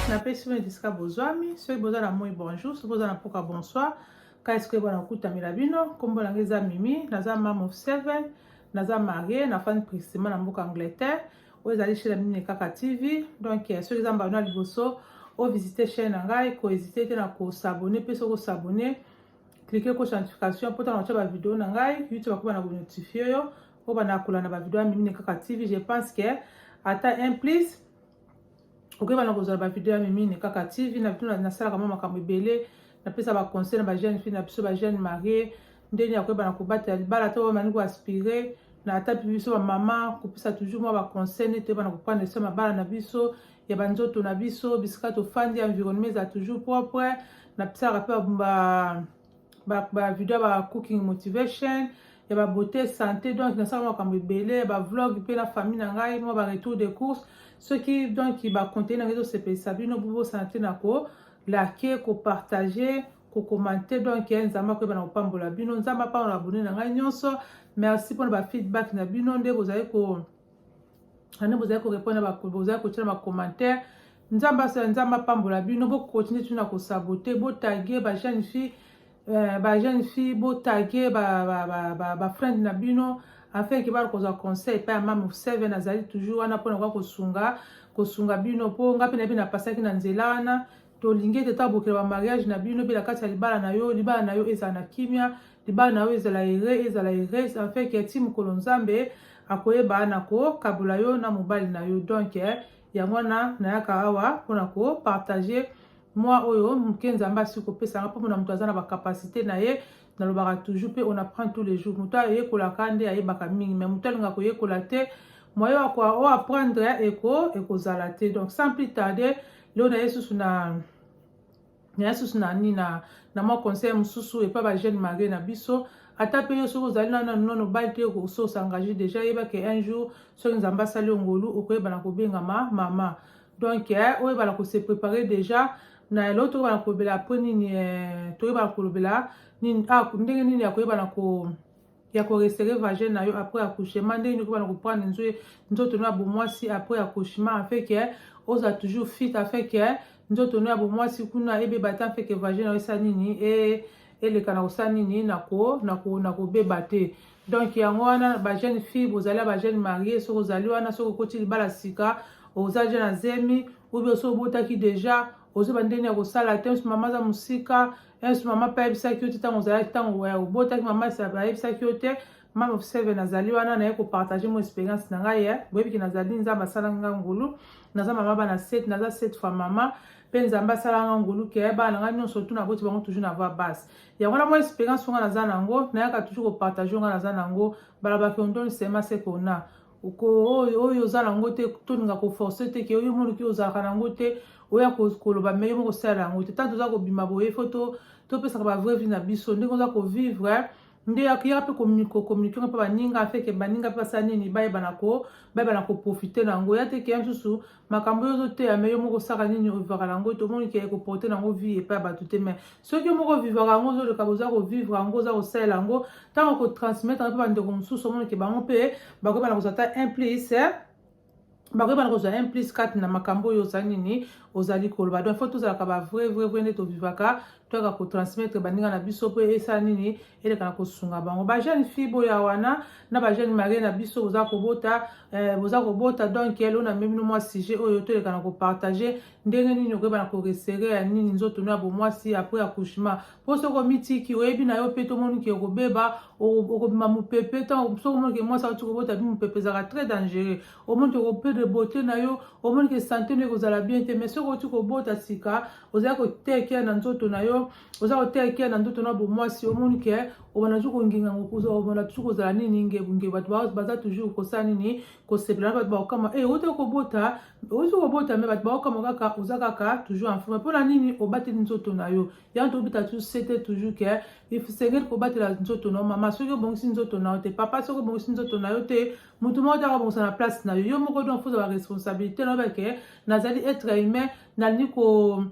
napesi bino esika bozwami soki boza na moi bonjour soki boza na mpoka bonsoir kasi soki bana kokutamela bino nkombo na ngai eza mimi naza mam of seven naza marie nafandi prisima na mboka angleterre oyo ezali chaine ya mimi kaka tv donc eh, soki eza mbano ya liboso ovisite chaine na ngai koezite te na kosabone mpe soki osabone cliquer ko notification po tanga ba video na ngai youtube akoba na ko notifie yo po bana kola na ba video mimi ne kaka tv je pense que ata un plus okoyeba na kozala ba video ya mimi ne kaka tv na bino nasalaka mwa makambo ebele napesa ba conseil na ba jeune fille na biso ba jeune marie ndenge ya koyeba na kobatela libala to bamani ko aspire na ata biso bamama kopesa toujours mwa baconseil nde toyeba na koprendre soin mabala na biso ya banzoto na biso bisika tofandi environnement eza toujours propre napisaka mpe bavideo ya ba cooking motivation ya babeauté santé donc nasala makambo ebele ya bavlog mpe na famille na ngai mwa baretour de course soki donc bacontenu na ngai ezosepelisa bino bobosana te na kolake kopartage kokomante donc eh, nzambe akoyeba na kopambola bino nzambe apambola bone na ngai nyonso merci mpona bafeedback na bino nde bozali ko ane bozali korepondre bozali kotia na bacommentaire nzambe asala nzambe apambola bino bokontinue tuna kosabote botage bajeune fille euh, bajeune fille botage bafriend na bino afin ke bana kozwa conseil epai ya mame seven azali toujours wana mpona koya kosunga kosunga bino mpo ngai mpe na bino napasaki na nzela wana tolingi ete tabokela ba mariage na bino pe na kati ya libala na yo libala na yo ezala na kimia libala na yo ezala ere ezala erese afin ke ti mokolo nzambe akoyeba na kokabola yo na mobali na yo donk eh, yango wana nayaka awa mpona kopartage mwa oyo moke nzambe asi kopesa nga mpo mona moto aza na bacapacité na ye nalobaka toujours mpe on apprend tous les jours moto ayekolaka nde ayebaka mingi mais moto alinga koyekola te moyen oyo apprendre eko ekozala te donc sans plus tarder leo naye susu na naye susu na nini na, na mwa conseil mosusu epa ba jeune marie na biso ata mpe yo soki ozali nano nano obali te okosi osengage deja yeba ke un jour soki nzambe asali yo ngolu okoyebana kobengama mama donc eh, oyebana kose prepare deja na eloko toyebana kolobela mpo nini eh, toyebana kolobela nini ah, ndenge nini ya koyebana ko ya ko resserrer vagin na yo après accouchement ndenge nini okobana koprendre nzoe nzoto no ya bomwasi après accouchement afin que ozala toujours fit afin que nzoto no ya bomwasi kuna ebeba te afin que vagin na yo esa nini e eleka na kosala nini na ko na ko na kobeba te donc yango wana ba jeune fille bozali ya ba jeune marie soki ozali wana soki okoti libala sika oza deja na zemi oubien soki obotaki deja ozoba ndenge ya kosala te mama aza mosika yesu mama mpe ayebisaki yo te ntango ozalaki ntango ya obotaki mama esape ayebisaki yo te mama of seven nazali wana naye kopartage mo experience na ngai ye boyebiki nazali nzambe asalaki ngai ngulu naza mama bana set naza set fois mama mpe nzambe asalaka nga ngolu ke eh, bana ngai nyonso tu naboti bango toujours na voix basse yango na mwa experience nga naza na yango nayaka toujours kopartage nga naza na yango balabaki ondoni sema se kona oyo oyo oza nango te tolinga koforce te ke oyo omoni ke ozalaka nango te oya koloba me yo moko osala yango te ntango toza kobima boye fo topesaka bavrai vie na biso ndenge oza kovivre nde yakiyaka mpe kokommunike mpe baninga afeke baninga mpe basala nini bayebana ko bayebana koprofite na yango ya te keya mosusu makambo oyo ozoteya me yo moko osaka nini ovivaka na yango tomoni ke ekoporte na yango vie epai ya bato te mai soki yo moko ovivaka yango ozoleka boza kovivre yango oza kosalela yango ntango okotransmettre yango mpe bandeko mosusu omoni ke bango mpe bakoyeba na kozwa ata implice eh? bakoyeba na kozwa implice kati na makambo oyo ozali nini ozali koloba donc fo tozalaka bavrai vrai vrai nde tovivaka toyaka kotransmettre baninga na biso mpo esala nini eleka na kosunga bango bajeune fille boya wana na bajeune marie na biso boza kobota eh, boza kobota donc elo na memi no mwa sujet oyo toleka na kopartage ndenge nini okoyeba na koresere ya nini nzoto no ya bomwasi apres accouchement mpo soki omitiki oyebi na yo mpe tomoni ke okobeba okobima mopepe ntango soki omoni ke mwasi auti kobota bi mopepe ezalaka très dangereux omoni ke okopede bote na yo omoni ke sante no ekozala bien te mais soki oti kobota sika ozali koteya ekeya na nzoto na yo oza koteya ekeya na nzoto na bomwasi omoni ke obanda tu konginga obanda tu kozala nini ngebunge bato baza toujours kosala nini kosepela na bato bakokama e eh, oti kobota oti kobota me bato bakokama kaka oza kaka toujours en forme mpona nini obateli nzoto na yo yango tobita tu sete toujours ke esengeli kobatela nzoto na yo mama soki obongisi nzoto na yo te papa soki obongisi nzoto na yo te moto moko te akobongisa na place na yo yo moko donc fozala responsabilité na yo bake nazali être humain nalingi ko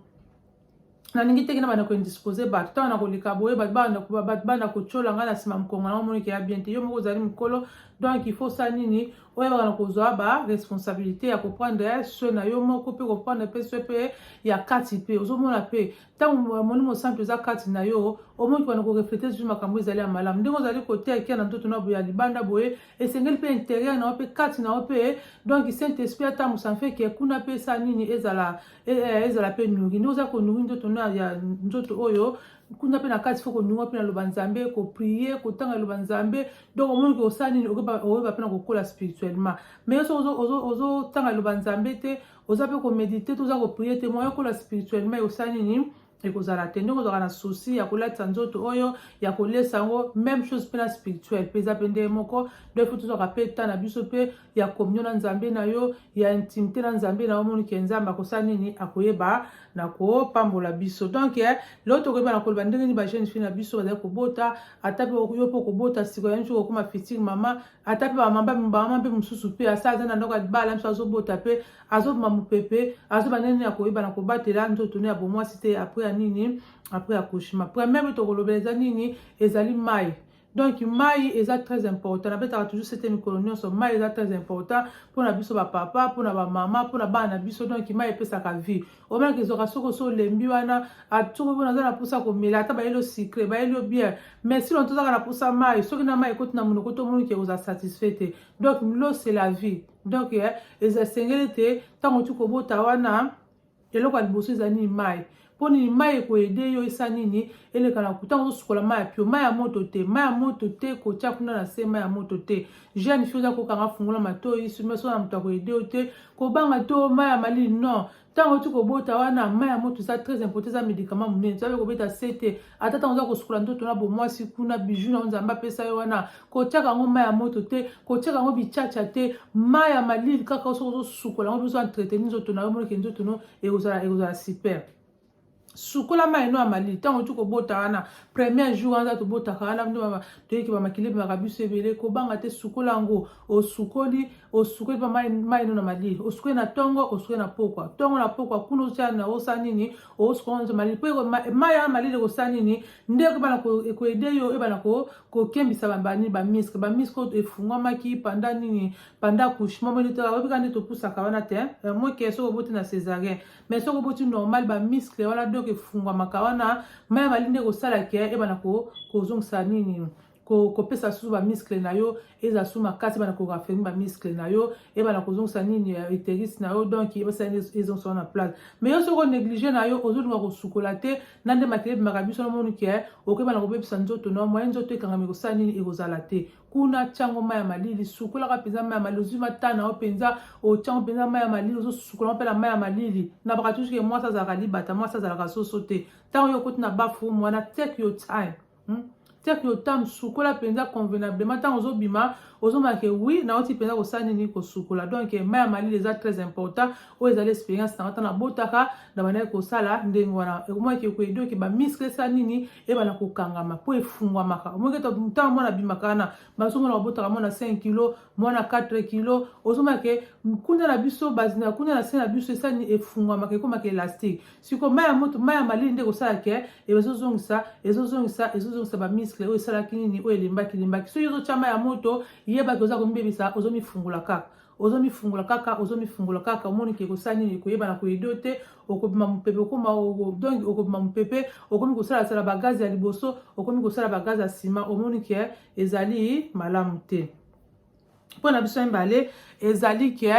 nalingi teke na banda koindispose bato ntango na koleka boye bato banda kotyola ngai na nsima mokongo na omoniki ya bien te yo moko ozali mokolo donc il faut sa nini oyebaka na kozwa ba responsabilité ya koprendre soin na yo moko mpe koprendre mpe soin mpe ya kati mpe ozomona mpe ntango ya molimo santu eza kati na yo omoki wana koreflete zuzu makambo ezali ya malamu ndenge ozali koteya ekia na nzoto na boye ya libanda boye esengeli mpe interieur na yo mpe kati na yo mpe donc saint esprit atambwisa mpe ke kuna mpe esa nini ezala e, e, ezala mpe nuri nde oza konuri nzoto na ya nzoto oyo kuna mpe na kati fo konunga mpe na loba nzambe koprie kotanga loba nzambe donc omoni ke osala nini okoyeba mpe na kokola spirituellement mais yo soki ozotanga loba nzambe te oza mpe komedite to oza koprie te moyen okola spirituellement osala nini ekozala te ndenge ozalaka na souci ya kolatisa nzoto oyo ya kolesa yango même chose mpe na spirituel mpe eza mpe ndenge moko donc fo tozwaka mpe temps na biso mpe ya communion na nzambe na yo ya intimité na nzambe na yo omoni ke nzambe akosala nini akoyeba na kopambola biso donc eh, lelo tokoyeba na koloba ndenge nini bajeune fille na biso bazali kobota ata mpe yo mpe okobota sikoyo ya nso kokoma fitile mama ata mpe bamama mpe mosusu mpe asa aza na ndako ya libala biso azobota mpe azobima mopepe azoba nini ya koyeba na kobatela nzoto ne ya bomwasi te apres ya nini apres ya kushima première mpe tokolobela eza nini ezali mai donc mai eza très important nabetaka toujours sete mikolo nyonso mai eza très important mpona biso bapapa mpona bamama mpona bana na biso donc mai epesaka vie omaki ezwaka soki osi olembi wana soki mpona aza na mposa komela ata bayeli o sucre bayeli o biere mais sino tozaka na mposa mai soki na mai ekoti na monoko tomoni ke oza satisfait te donc lo c'est la vie donc eh, eza esengeli te ntango oti kobota wana eloko ya liboso eza nini mai mpo nini mai ekoyede yo esa nini elekana ntango ozosukola mai ya pio mai ya moto te mai ya moto te kotya kuna na se mai ya moto te jeune fille oza kokanga fungola matoyi sima sona moto akoyede yo te kobanga to mai ya malili non ntango oti kobota wana mai ya moto eza très important eza médicament monene tozabe kobeta se te ata ntango oza kosukola nzoto na bomwasi kuna biju na yo nzambe apesa yo wana kotyaka yango mai ya moto te kotyaka yango bichacha te mai ya malili kaka soki ozosukola yango bizo entretenir nzoto na yo moneke nzoto no ekozala ekozala super sukola mai no ya malili ntango outi kobota wana premier jour wana tobotaka wana nde toyeki bamakili ebimaka biso ebele kobanga te sukola yango osukoli osukoli mpa mai no na malili osukoli na ntongo osukoli na pokwa ntongo na pokwa kuna otya na osa nini osukola nzo malili mpo mai ya malili ekosala nini nde ekobana ekoede yo ebana kokembisa banini bamiske bamiske oyo efungwamaki panda nini panda couchement moyebika nde topusaka wana te eh, moke soki oboti na césarien mais soki oboti normal ba muscle wana donc efungwamaka wana mai ya malili nde ekosala ke ebana kozongisa nini kopesa susu bamiskle na yo eza su makasi ebana koraffermi bamiskle na yo ebana kozongisa nini eh, uteris na yo donc ebasala ezongisa yo na place mais yo soki onéglige na yo ozolinga kosukola te na nde makele ebimaka biso namoni ke okebana kobebisa nzoto na yo moye nzoto ekangami ekosala nini ekozala te kuna tiango mai ya malili sukolaka mpenza mai ya malili ozwi mata na yo mpenza otiango mpenza mai ya malili ozosukola mpe na mai ya malili na baka tusuke mwasi azalaka libata mwasi azalaka soso te ntango yo okoti na bafu mwana take your time hmm? take your time sukola mpenza convenablement ntango ozobima ozomonake wi nauti mpenza kosala nini kosukola donc mai ya malili eza très important oyo ezali experience na ata nabotaka na bandaki kosala ndenge wana ekomaki ekoedoki bamiskle sa nini ebana kokangama mpo efungwamaka omoki ete ntango mwana abimaka wana bazomona babotaka mwana 5 kilo mwana 4 kilo ozomake nkunda na biso nkunda na se na biso esani efungwamaka ekomaka elastique siko mai ya moto mai ya malili nde ekosala ke ezozongisa ezozongisa ezozongisa bamiskle oyo esalaki nini oyo elembaki elembaki soki ozotya mai ya moto yebaki oza komibebisa ozomifungula kaka ozo mifungola kaka ozo mifungola kaka omoni ke kosala nini koyebana koyede yo te okobima mopepe okoma donc okobima mopepe okomi kosalasala bagaze ya liboso okomi kosala bagaze ya nsima omoni ke ezali malamu te mpo na biso mibale ezali ke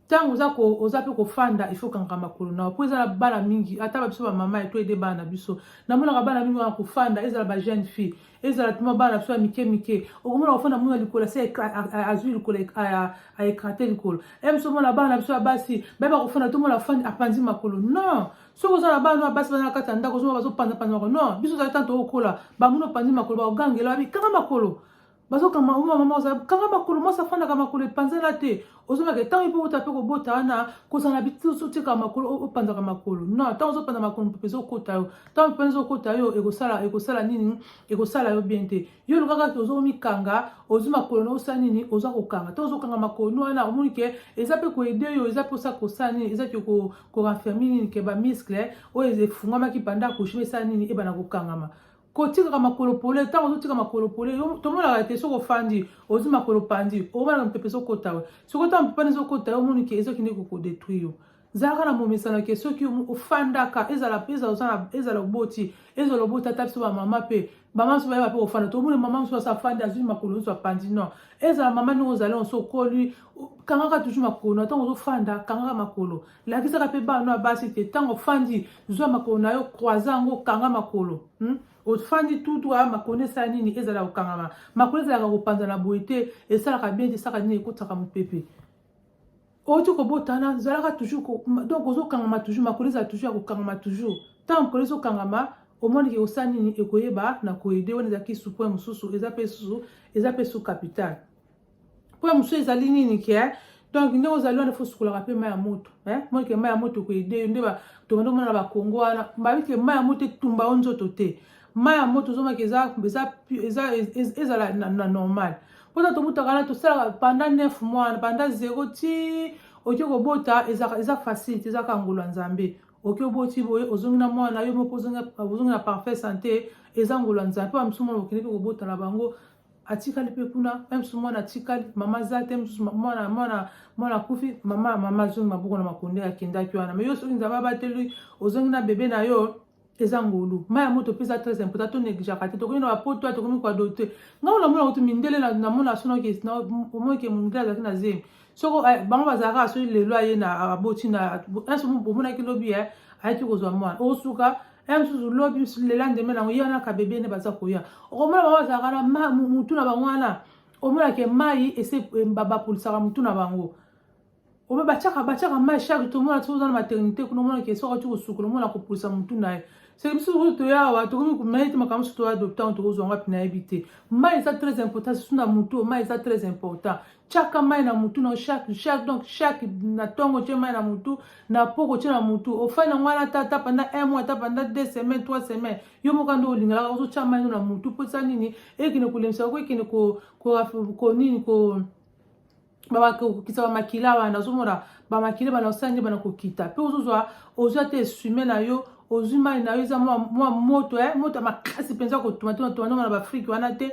ntango oza oza mpe kofanda ifo okangaka makolo nao mpo eza na bana mingi ata ba biso bamama ya to ede bana na biso namonaka bana mingi wana kofanda ezala ba jeune fille ezala ntoma bana biso ya mike mike okomona kofanda muna likolo asi azwi likolo aekrate likolo e biso mona bana biso ya basi bayeba kofanda tomona fandi apanzi makolo non soki oza na bana oyo basi baza na kati ya ndako ozomona bazopanzapanza makolo non biso ozali ntanto okola bamuna opanzi makolo bakogangela babi kanga makolo bazokanga mama mama ozali kanga makolo mwasi afandaka makolo epanzana te ozobaka ntango ye mpe ota mpe kobota wana kozala na bitusu otika makolo opanzaka makolo no ntango ozopanza makolo mpepe ezokota yo ntango mpepe ezokota yo ekosala ekosala nini ekosala yo bien te yo olukaka te ozomikanga ozwi makolo na osala nini oza kokanga ntango ozokanga makolo no wana omoni ke eza mpe koede yo eza mpe osa kosala nini eza ke korenfermi nini ke bamiskle oyo efungamaki panda kushima esala nini ebana kokangama kotikaka makolo pole ntango ozotika makolo pole tomonaka te soki ofandi ozwi makolo pandi okomonaka mopepe ezokota yo soki ota mopepe wana ezokota yo omoni ke ezokende kokodetruire yo zalaka na momesano ke soki ofandaka ezala ezala oboti ezala oboti ata biso bamama mpe mama mosusu bayeba mpe kofanda tomoni mama mosusu asi afandi azwi makolo nyonso apandi non ezala mama ndenge ozali onso okoli kangaka toujours makolo na ntango ozofanda kangaka makolo lakisaka mpe bana ya basi te ntango ofandi zwa makolo na yo croise yango okanga makolo hmm? ofandi tutu aya makolo esala nini ezala kokangama makolo ezalaka kopanzana boye te esalaka bien te esalaka nini ekotisaka mopepe oti kobotana zalaka toujours ko, donc ozokangama toujours makolo ezala toujours ya kokangama toujours ntango makolo ezokangama omoni ke osala nini ekoyeba na koyede wana ezalaki supoint mosusu eza mpe susu eza mpe su capital mpo ya mosusu ezali nini ke eh? donc ndenge ozali wana fo osukolaka mpe mai ya moto eh? moi ke mai ya moto ekoyede yo nde tobanda komona na bakongo wana babi ke mai ya moto etumba yo nzoto te mai ya moto ozomaki ezala na normal mpo ta tobutaka na tosalaka panda 9 mois panda 0 ti oke kobota eza facile te ezaka ngolo ya nzambe oke oboti boye ozongi na mwana na yo moko ozongi na parfait sante eza ngolo ya nzambe mpo bamisusu mwana okendeki kobota na bango atikali mpe kuna msusu mwana atikali mama aza te msusu mwana mwana mwana akufi mama mama azongi maboko na makonde akendaki wana me yo soki nzambe abateli ozongi na bebe na yo eza ngolu mai ya moto mpe eza très important to negligaka te tokomi na bapoto ya tokomi kuadote ngai olamona kutu mindele namona sonoki omoki mindele azalaki na zemi soko eh, bango bazalaka soki lelo aye na aboti na omonaki lobi eh, ayaki kozwa mwana osuka ya mosusu lobi mosusu lela ndembe nango ye wana kabebe nde baza koya okomona bango bazalaka na mutu na bango wana omonake mai ese bapolisaka mutu na bango obe batiaka batiaka mai shake tomona soki oza na maternité kuna omonake soki oti kosukola omona kopolisa mutu na ye seke biso soki toya awa tokomi komaye te makambo mosusu toya adoptango tokozwa ngapi nayebi te mai eza très important susu na mutu mai eza très important chaka mai na mutu na chaque chaque donc chaque na tongo tie mai na mutu na poko tie na mutu ofai na ngwana ata ata panda un mois ata panda deux semaines trois semaines yo moko nde olingalaka ozotya mai na mutu mpo eza nini ekende kolemisa ko ekende ko, ko, ko nini ko bakokokisa bamakila wana ozomona bamakila bana osali nde bana kokita mpe ozozwa ozwa te esume na yo ozwi mai na yo eza mwa moto eh, moto ya makasi mpenza kotumatuna tumatuna na baafrike wana te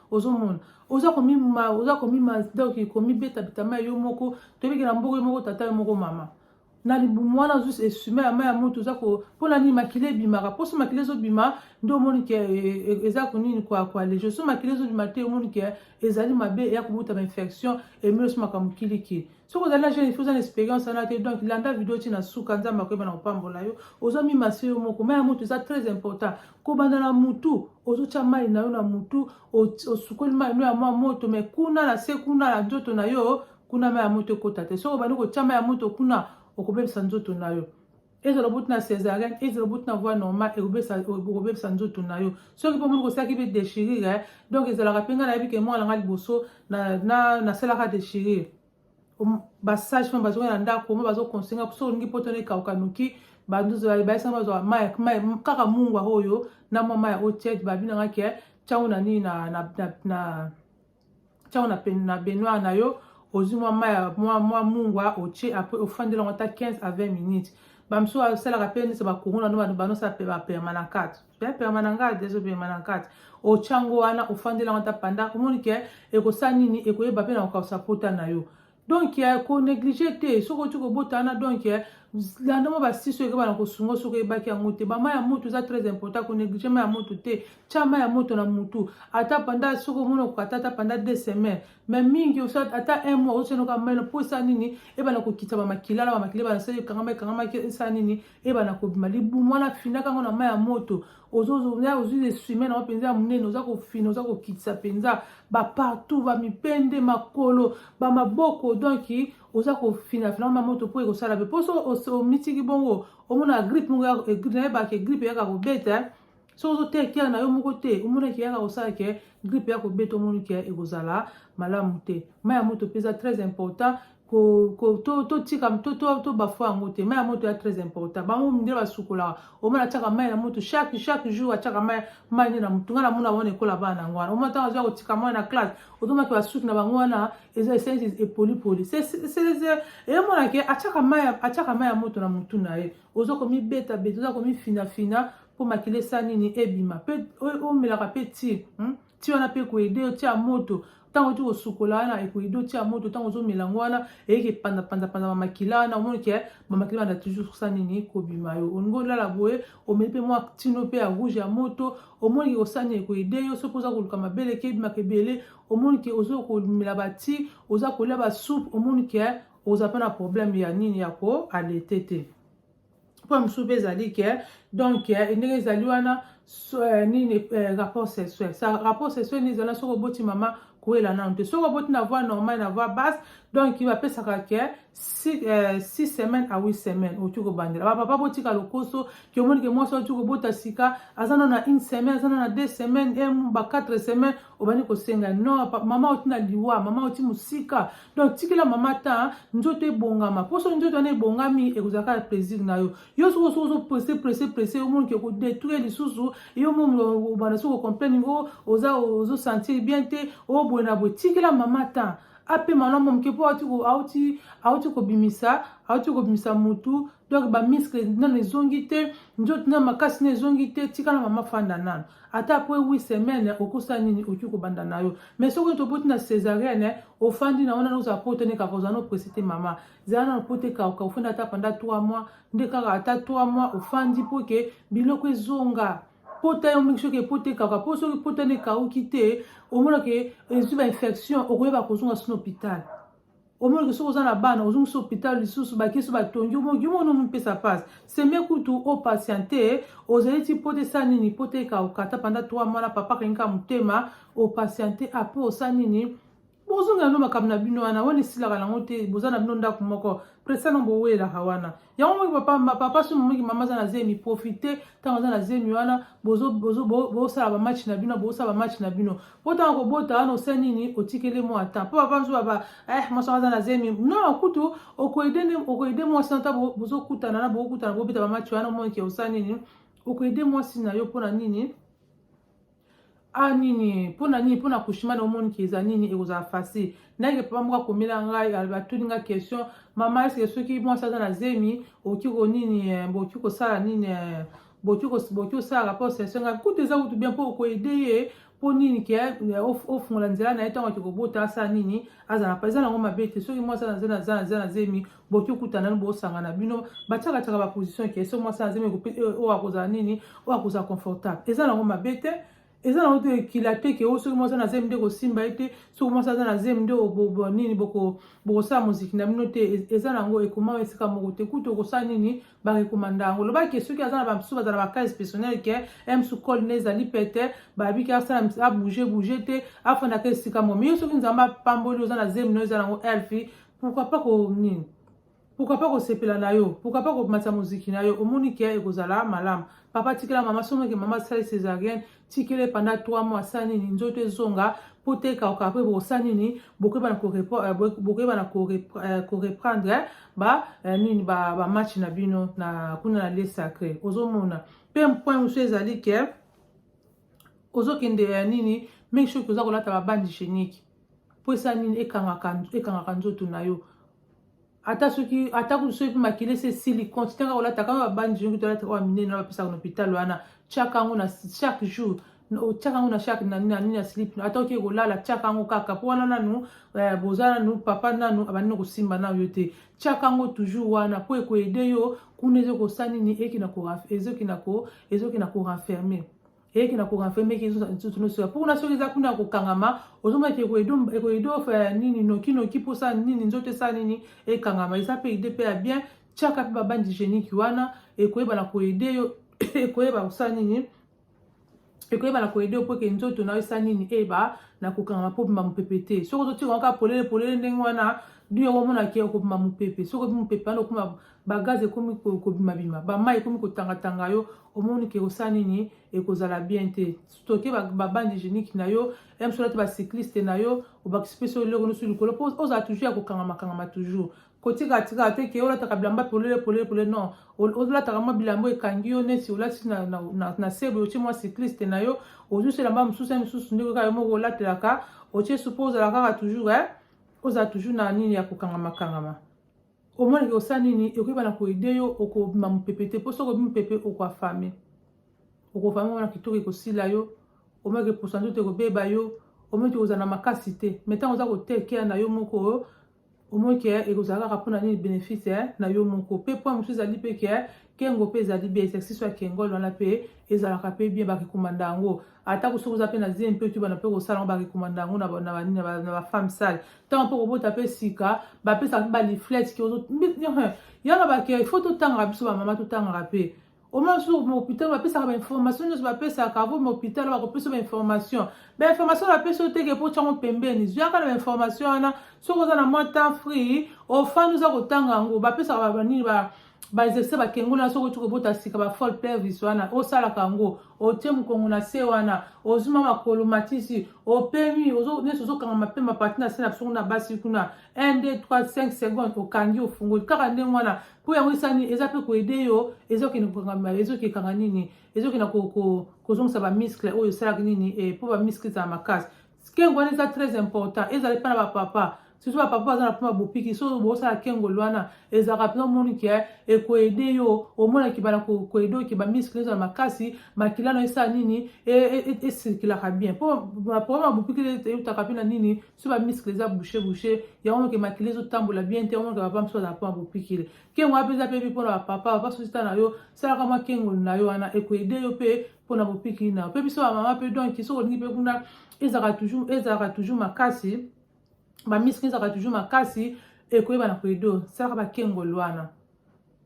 ozomona oza komima oza komima donc komibeta bitama yo moko tobiki na mboko yo moko tata yo moko mama na libumu wana ozus esume ya mai ya moto oza mpona nini makila ebimaka mposo makila ezobima nde omoni ke e, e, e, eza konini koalege so makila ezobima te omoni ke ezali mabe eya kobutama infection emelosi makambo kiliki soki ozali na jeune fille oza na experience wana te donc landa video ti na suka nzambe akoyeba na kopambola yo ozo mimase yo moko mai ya motu eza très important kobanda na motu ozotya mai na yo na motu osukoli mai no ya mwa moto mai kuna na se kuna na nzoto na yo kuna mai ya moto ekota te soki obandi kotya mai ya moto kuna okobebisa nzoto na yo ezala obuti na césarienne ezala obuti na voie normal ekobebisa nzoto na yo soki mpo omoni kosalaki mpe déchirure eh, donc ezalaka mpe ngai nayebi ke mwana ngai liboso nasalaka déchirure basage femme bazongi na ndako omo bazoconsenga soki olingi mpo tona ekauka noki banduzbaisa bazwa mai kaka mungwa oyo na mwa mai oyo tiete babi na ngai ke ntango na nini na tiango na, na baignoire na yo ozwi mwa mai ya mwa, mwa mungwa otie apres ofandela yango ata 15 à 20 minutes bamosusu asalaka mpe neti bakuruna no banosala mpe bapermanakate permanangate ezo permanangate otya yango wana ofandela yango ata panda omoni ke ekosala nini ekoyeba mpe na kokausa pota na yo donc ya ko neglige te soki oti kobota wana donc ya landa mwa basiso ekeba na kosunga soki oyebaki yango te bama ya moto eza très important ko neglige ma ya moto te tya ma ya moto na motu ata panda soki omoni okokata ata panda deux semaines mais mingi ata un mois osenoka melo mpo esa nini ebana kokita bamakila na bamakila ebana sali ekangama ekangamaki esa nini ebana kobima libumu wana finaka yango na ma ya moto ozozoya ozwi lesume na yo mpenza ya monene oza kofina oza kokitisa mpenza bapartout bamipende makolo bamaboko donk oza kofinafina ma moto mpo ekosala mpe mposo omitiki bongo omona gripe moko nayebaka ke gripe eyaka kobeta eh. soki ozoteya kiaka na yo moko te omonaki eyaka kosala ke gripe ya kobeta omoni ke ekozala malamu te mai ya moto mpe eza très important totika tobafua yango te mai ya moto ya très important bango nde basukolaka omona atiaka mai na moto chaque chaque jour atiaka mai mai nde na motu ngai namona bango ekola bana yango wana omona ntango azoya kotika mai na classe otomaki basuki na bango wana eza esensi epolipoli emonake atiaka mai ya moto na motu na ye oza komibeta beta oza komifinafina mpo makila esa nini ebima mpe omelaka mpe ti hmm? ti wana mpe ekoyede yo tia moto ntango oti kosukola wana ekoyede otia moto ntango ozomela yango wana eyeke epandapandapanza bamakila wana omoni ke bamakila wana toujours kosa nini kobima yo olingi olala boye omeli mpe mwa tino mpe ya rouge ya moto omoni ke kosa nini ekoyede yo soki oza koluka mabele eke ebimaka ebele omoni ke oza komela bati oza kolia basupe omoni ke oza mpe na problème ya nini ya koalete te point mosusu mpe ezali ke donc eh, ndenge ezali wana so, eh, nini eh, rapport sexuel sa rapport sexuel nini ezala soki oboti mama koyela nanu te soki oboti na voie normale na voie basse donc bapesaka ke six, euh, six semaines à huit semaines okoki kobandela bapapa botika lokoso ke omoni ke mwasi okoki kobota sika aza nano na une semaine aza nano na deux semaines ba quatre semaines obandi kosenga no mama oti na liwa mama oti mosika donc tikela mama ta nzoto ebongama mpo soki nzoto wana ebongami ekozala kaka plaisir na yo yo soki osoki ozopresse presse presse omonike kodetruire lisusu yo mobanda soki ocomplaine o oza ozosentir bien te o boye na boye tikela mama ta apema na mwa moke mpo auti kobimisa auti kobimisa motu donc ba muscle nanu ezongi te nzoto na makasi na ezongi te tika na mama fanda nanu ata apres 8 semaine okosa nini oki kobanda na yo mais soki toboti na césarienne ofandi na wana ozala poto nde kaka ozala nopesi te mama zala nanu poto ekauka ofandi ata panda 3 mois nde kaka ata 3 mois ofandi mpo ke biloko ezonga pota yo mingi soki epota ekauka mpo soki pota nde ekauki te omonake ezwi bainfection okoyeba kozonga sino hôpital omonaki soki oza na bana ozongisi hôpital lisusu bakisi batongi omonaki yo mona omipesa pasi seme kutu o patiente ozali ti mpo te sa nini mpo te ekaokata panda 3 mwana papa akangika motema o patiente apres osa nini bozongela no makambo na bino wana wana esilaka nango te boza na bino ndako moko presano bowelaka wana yango moki papa papa somo moki mama aza na zemi profite ntango aza na zemi wana bosala bamatch na bino bosala bamatch na bino mpo ntango kobota wana osa nini otikeli mwa ata mpo papa nzoba ba eh mwasi aza na zemi non kutu okoede mwasi na ntango bozokutana na bokokutana bobeta bamatch wana omonike osa nini okoede mwasi na yo mpo na nini ah nini mpo na nini mpo na kushima na omoni ke eza nini ekozala facile ndenge papa moko akomela ngai atuni ngai question mama eske soki mwasi aza na zemi okoki ko nini eh, bokoki kosala nini eh, bokoki osalaka mpo sesio ngai kutu eza kutu bien mpo okoede ye mpo nini ke eh, ofungola nzela na ye ntango ake kobota asala nini azala mpa eza nango mabe te soki mwasi aza na zemi boki okuta nanu bosangana bino batiaka tiaka baposition ke so mwasi azemi euh, oyo akozala nini oyo akozala confortable eza nango mabe te eza nango te ekila te ke o oh, soki mwasi na zemi nde kosimba ye te soki mwasi aza na zemi nde nini bokosala moziki na bino te eza nango ekoma esika moko te kutu okosala nini barekomanda yango loba ke soki aza na bamisusu bazala bacase personnel ke msu cole ne ezali pete babiki asala abouge bouge te afandaka esika mo miyo soki nzambe apamboli oza na zemi no eza nango elfi pourquoi pas ko nini pourquoi pas kosepela na yo pourquoi pas komatisa moziki na yo omoni ke ekozala malamu papa tikela mama somoke mama asali césarienne tikele panda 3 mois asala nini nzoto ezonga mpo te ekauka mpe bokosala nini bokoyebana koreprendre euh, euh, ba euh, nini bamatch na bino na kuna na lie sacré ozomona mpe mpoint mosusu ezali ke ozokendela ya nini make sure oza kolata babandi chenique mpo esa nini ekangaka ekangaka nzoto na yo ata soki ata soki makila esi esili continue kaka kolata kaka babandi chenique tolata oyo minene na bapesaka na hôpital wana tiaka yango na chaque jour otyaka yango na shake na nini ya slip ata oke kolala tyaka yango kaka mpo wana nanu eh, boza nanu papa nanu abandi na kosimba nanu yo te tiaka yango toujours wana mpo ekoede yo kuna ezokosa nini ezoki na korenferme eyeki na korenferme eki nsusu nosoya mpo kuna soki eza kuna ya kokangama ozomaki ekoede ofela ya nini nokinoki mpo osala nini nzoto esala nini ekangama eza mpe ide mpe ya bien tiaka mpe babandi genique wana ekoyeba na koede yo ekoyeba kosala nini ekoyeba na koyede yo mpo eke nzoto na yo esa nini eyeba na kokangama mpo obima mopepe te soki ozotika yango kaka polele polele ndenge wana bino yango omona ke okobima mopepe soki obimi mopepe wana okoma bagaz ekomi kobimabima bamai ekomi kotangatanga yo omoni ke kosala nini ekozala bien te stoke babande hygiénique na yo msola te bacycliste na yo obakisi mpe so eloko nyonso likolo mpo ozala toujours ya kokangama kangama toujours kotika tika te ke olataka bilamba polele polele polele non olataka mwa bilamba ekangi yo neti olati na, na, na, na sebe otie mwa cycliste na yo ozusi elamba mosusu ya misusu ndeko kaka yo moko olatelaka otie supo ozala kaka toujours eh? ozala toujours na nini ya kokangama kangama omoni ke osala nini ekoyeba na koede yo okobima mopepe te mpo soki obi mopepe okoafame okofame wana kitoko ekosila yo omoni ke posa nzoto ekobeba yo omoni te kozala na makasi te mai ntango oza kotekea na yo moko omoi ke ekozala kaka mpo na nini benefice eh, na yo moko mpe mpo mosusu ezali mpe ke eh, kengo mpe ezali bien exercice ya kengol wana mpe ezalaka mpe bien barekomanda yango atako soki oza mpe na zemi mpe tubana mpe kosala yango barekomanda yango na bafemme sale ntango mpe kobota mpe sika bapesaka mpe baliflete ke yanga bake fo totangaka biso bamama totangaka mpe Omar sur hôpital bapesaka ba information nyonso bapesaka avo ma hôpital bakopesa ba information ba information bapesi yo teke mpo tyango pembeni zuyaka na ba information wana soki oza na mwa temps free ofani oza kotanga yango bapesaka banini ba baexercice bakengoli na soki otiki obota sika bafol pelvis wana osalaka yango otie mokongo na se wana ozuma makolo matisi opemi nyonso ozokanga mapema pati na se na biso kuna basi kuna 1 2 3 5 seconde okangi ofungoli kaka ndenge wana mpo yango esani eza mpe koede yo ezokende kokangama ezokekanga nini ezokenda kozongisa bamiskle oyo esalaka nini eh, mpo bamiskle ezala makasi kengo wana eza très important ezala epai na bapapa surtout bapapa baza na mpona bopiki so bosala kengol wana ezalaka mpenza omoni ke eh, ekoede yo omonaki bana koede oke bamiskle ezala makasi makila na esala nini esirkilaka e, e, e bien mpo baprograme ya bopiki eutaka mpe na nini so ba misikle eza bouche bouche yango moke makili ezotambola bien te yango moke papa mosusu azala mpo akopikile kengo wapi eza mpe bi mpo na bapapa papa sosita na yo salaka mwa kengoli na yo wana ekoede yo mpe mpo na bopikili na yo mpe biso bamama mpe donki soki olingi mpe kuna ezalaka toujours ezalaka toujours makasi bamisikle ezalaka toujours makasi ekoyeba na koede salaka bakengoli wana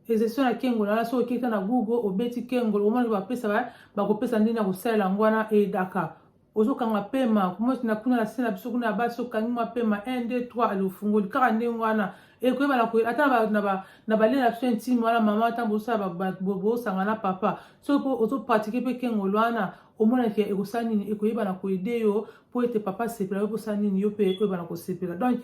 Ezesio na kengo na soki okita na Google obeti kengo omona bapesa ba bakopesa ndenge ya kosalela yango wana edaka ozokanga pema kumoti na kuna na se na biso kuna ya basi okangi mwa pema 1 2 3 ali ofungoli kaka ndenge wana ekoyeba na koyeba ata na balela na biso intime wana mama ata bosala bosanga na papa soki mpo ozopratike mpe kengolo wana omona ke ekosala nini ekoyeba na koyede yo mpo ete papa asepela yo mposala nini yo mpe ekoyeba na kosepela donk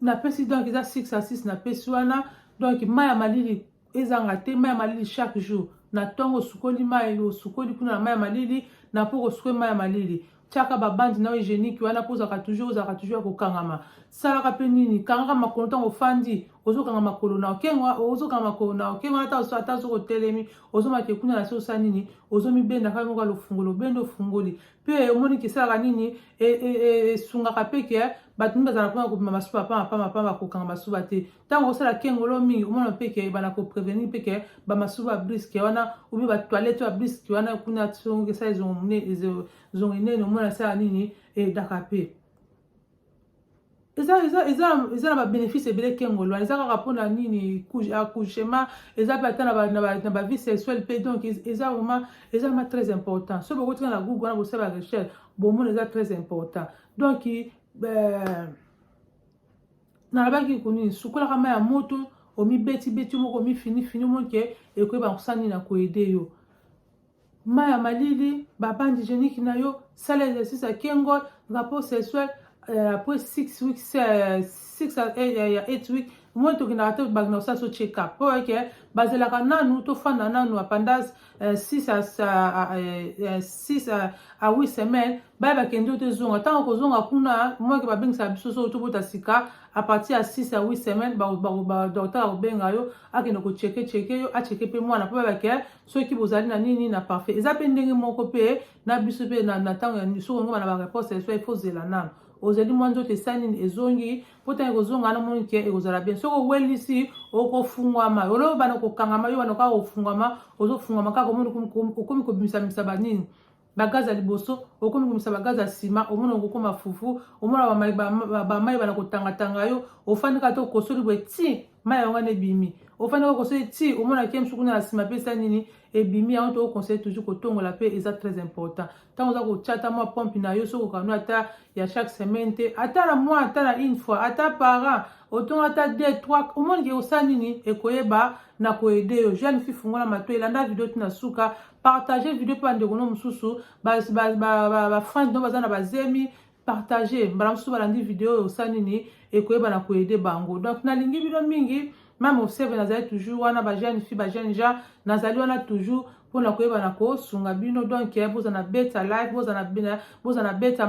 napesi donc eza 6 à 6 napesi wana donc mai ya malili ezanga te mai ya malili chaque jour na ntongo osukoli mai osukoli kuna na mai ya malili na mpo kosukoli mai ya malili tiaka babandi na hygiénique wana mpo ozalaka toujours ozalaka toujours ya kokangama salaka mpe nini kangaka makolo ntango ofandi ozokanga makolo na okenga ozokanga makolo na okenga wana ata soki otelemi ozomake kuna na se osala nini ozomibenda kaka moko lofungola obende ofungoli mpe omoni kesalaka nini e, e, e, esungaka mpe ke bato mingi bazala mpona kobima masuba pamba pamba pamba kokanga masuba te ntango osala kengolo mingi omona mpe ke ebanda koprevenir mpe ke bamasuba ya briske wana obi batoilette ya briske wana kuna songo esala ezongo enene omona esala nini edaka mpe eza eza eza eza na ba bénéfice ebele kengolo eza kaka mpona nini accouchement eza mpe ata na ba vie sexuelle mpe donc eza vraiment eza vraiment très important soki bokotika na google wana bosala ba recherche bomona eza très important donc euh, nalobaki kunini sukolaka mai ya moto omibetibeti moko omifinifini omonike ekoyeba kosala nini na koede yo Mayi ya malili, ba bande hygienique na yo, sala exercice ya kengol, rapport sexuel euh, après 6 weeks, 6 euh, euh, ya 8 weeks moi tokendaka te bangi na kosala so check up mpo eke bazalaka nanu tofanda nanu apandage 6 a 8 semaine baye bakende yo tezonga ntango kozonga kuna moyeke babengisaka biso so tobota sika a partir ya 6 a 8 semaine docteur akobenga yo akende kocheke cheke yo acheke mpe mwana mpo bayebake soki bozali na nini na parfait eza mpe ndenge moko mpe na biso mpe na ntango ya soki ongoma na bareponse ya so ifo ozela nano ozali mwa nzoto esali nini ezongi mpo ntango ekozonga wana moni ke ekozala bien soki owelisi okofungwama oloyo bana kokangama yo bana kaka kofungwama ozofungwama kaka okomi kobimisabimisa banini bagaze ya liboso okomi komisa bagaze ya nsima omona okokoma fufu omona bamai bana kotangatanga yo ofandi kaka te okosoli boye ti mai yango wana ebimi ofandi kaka okosoli ti omona ke mosu kuna na nsima mpe esa nini ebimi yango to oconseille toujours kotongola mpe eza très important ntango oza kotya ata mwa pompe na yo soki okano ata ya chaque semaine te ata na mwa ata na une fois ata parent otongo ata deux trois omoni ke osala nini ekoyeba na koyede yo jeune fille fungola mato elanda video ti na suka partage video mpe bandeko no mosusu bafrange no baza na bazemi partage mbala mosusu balandi video oyo osa nini ekoyeba na koyede bango donc nalingi bino mingi mame observe nazali toujours wana bajeune fille bajeune gens nazali wana toujours mpona koyeba na kosunga bino donc eh, bozana beta live bozana beta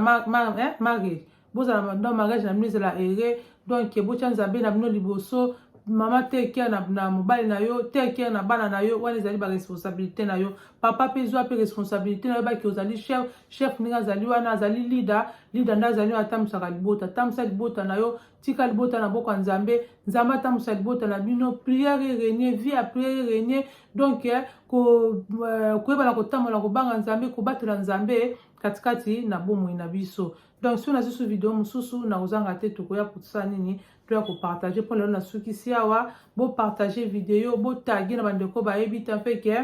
eh, marriage bozala na mariage na bino ezala ere donc botya nzambe na bino liboso mama te care na, na mobali na yo te care na bana na yo wana ezali baresponsabilité na yo papa mpe zwa mpe responsabilité na yo baki ozali chef chef ndenge azali wana azali leader leader nde azali oyo atambwisaka libota tambwisa libota na yo tika libota na boko ya nzambe nzambe atambwisa libota na bino prière erenie vie ya prière erenie donc eh, euh, koyebana kotambola kobanga nzambe kobatela nzambe katikati na bomoi na biso donc soki nasusu video mosusu na kozanga te tokoya kosala nini toya kopartage mpo lelo nasukisi awa bopartage video botage na bandeko bayebi te mpe ke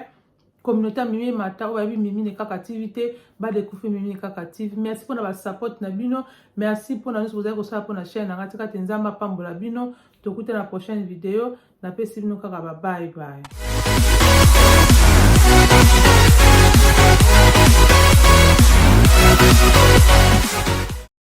communauté ya mimi mata oyo bayebi mimi ne kaka tv te badekufi mimi ne kaka tv merci mpona basapote na bino merci mpona nyonso bozali kosala mpona chaine nanga tika te nzambe apambola bino tokutana na prochaine video napesi bino kaka ba bye bye